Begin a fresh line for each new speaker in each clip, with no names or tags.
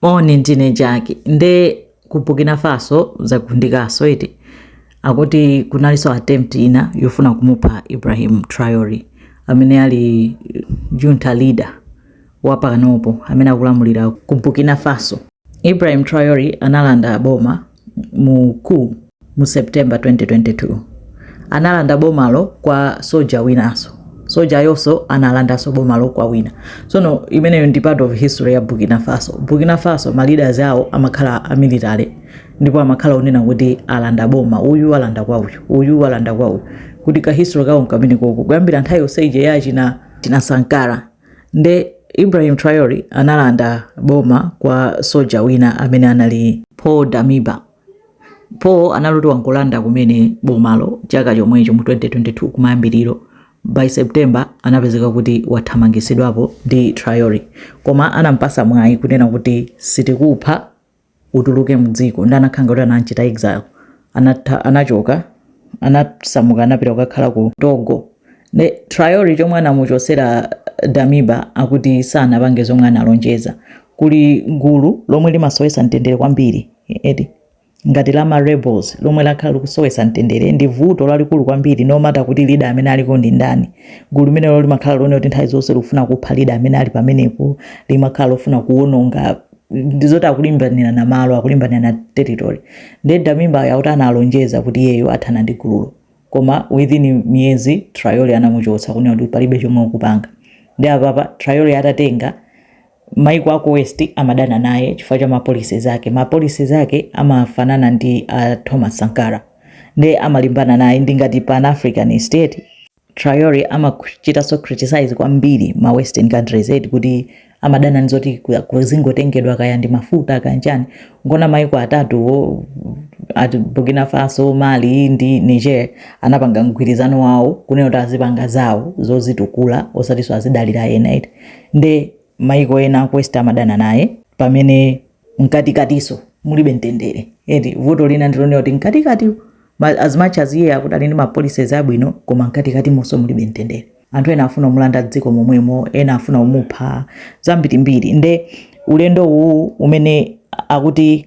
Moni ndine Jackie nde ku Burkina Faso zagundikaso eti akuti kunaliso attempt ina yofuna kumupha Ibrahim Traore amene ali junta leader wapakanopo amene akulamulira ku Burkina Faso. Ibrahim Traore analanda boma mu ku mu September 2022 analanda bomalo kwa soja winaso sojayoso analandaso bomalo kwa wina sono imeneyo ndi part of history ya Burkina Faso Burkina Faso ma leaders awo amakhala a military ndipo amakhala onena kuti alanda boma uyu alanda kwa uyu uyu alanda kwa uyu kuti ka history kawo nkamenekoko kuyambira nthawi yonse ije ya china china Sankara nde Ibrahim Traore analanda boma kwa soja wina amene anali Paul Damiba. Paul anali oti wangolanda kumene bomalo chaka chomwecho mu 2022 kumayambiriro by September anapezeka kuti wathamangisidwapo ndi Traore, koma anampasa mwayi kunena kuti sitikupha utuluke mdziko nde anakhala ngati kuti anamchita exile anatha anachoka anasamuka anapita kukakhala ku togo nde Traore chomwe anamuchosera damiba akuti sanapange zomwe analonjeza kuli gulu lomwe limasowesa mtendere kwambiri eti ngati la ma rebels lomwe lakhala likusowesa mtendere ndi vuto lalikulu kwambiri no matter kuti leader amene aliko ndi ndani gulu limenelo limakhala lonena kuti nthawi zonse likufuna kupha leader amene ali pamenepo limakhala lofuna kuwononga ndizoti akulimbanira na malo akulimbanira na territory nde damiba akuti analonjeza kuti iyeyo athana ndi gululo koma within miyezi Traore anamuchotsa kunena kuti palibe chomwe ukupanga nde apapa Traore atatenga maiko aku west amadana naye chifukwa cha ma policies ake ma policies ake amafanana ndi a thomas sankara nde amalimbana naye ndi ngati pan african state Traore amachitaso criticize kwambiri ma western countries eti kuti amadana ndi zoti ku- kuzingotengedwa kaya ndi mafuta kaya nchani nkuona maiko atatuwo eti burkina faso mali ndi niger anapanga mgwirizano wawo kunena kuti azipanga zawo zozitukula osatiso azidalira ena eti nde maiko ena aku west amadana naye pamene mkatikatiso mulibe mtendere eti vuto lina ndi lonena kuti mkatikati ma- as much as iye akuti ali ndi ma policies abwino koma mkatikatimonso mulibe mtendere anthu ena afuna kumulanda dziko momwemo ena afuna kumupha zambirimbiri nde ulendo uwu umene akuti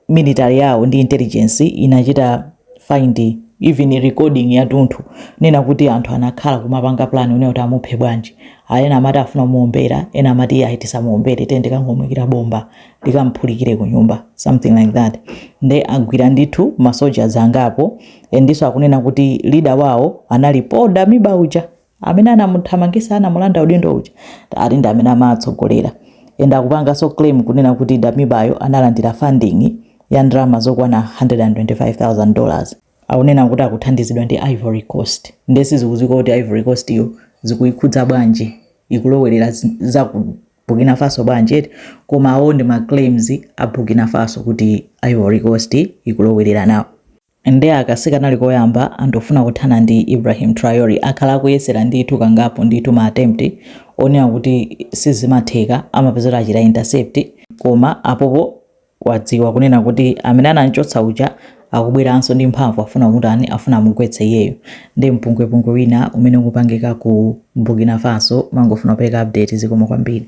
military yawo ndi intelligence inachita find even recording yathunthu kunena kuti anthu anakhala kumapanga plan unena kuti amuphe bwanji Ah, ena amati afuna kumuombera ena amati ayi tisamuombere tikangomuikira bomba likamuphulikire ku nyumba something like that nde agwira ndithu masoja angapo endiso akunena kuti leader wawo anali Paul Damiba uja amene anamuthamangisa anamulanda udindo uja ati ndi amene amawatsogolera and akupanganso claim kunena kuti Damiba yo analandira funding ya ndalama zokwana 125,000 dollars akunena kuti akuthandizidwa ndi Ivory Coast nde sizikudziwika kuti Ivory Coast yo zikuikhudza bwanji ikulowelera zi- za ku Burkina Faso bwanji eti koma awo ndi ma claims a Burkina Faso kuti Ivory Coast ikulowelera nawo Nde aka sikanali koyamba anthu kufuna kuthana ndi Ibrahim Traore, akhala akuyesera ndithu kangapo ndithu ma attempt onena kuti sizimatheka amapezeka achita intercept koma apopo wadziwa kunena kuti amene anamchotsa uja akubweranso ndi mphamvu afuna kumutani afuna amugwetse iyeyo nde mpungwepungwe wina umene ukupangika ku Burkina Faso mangofuna kupereka update zikomo kwambiri.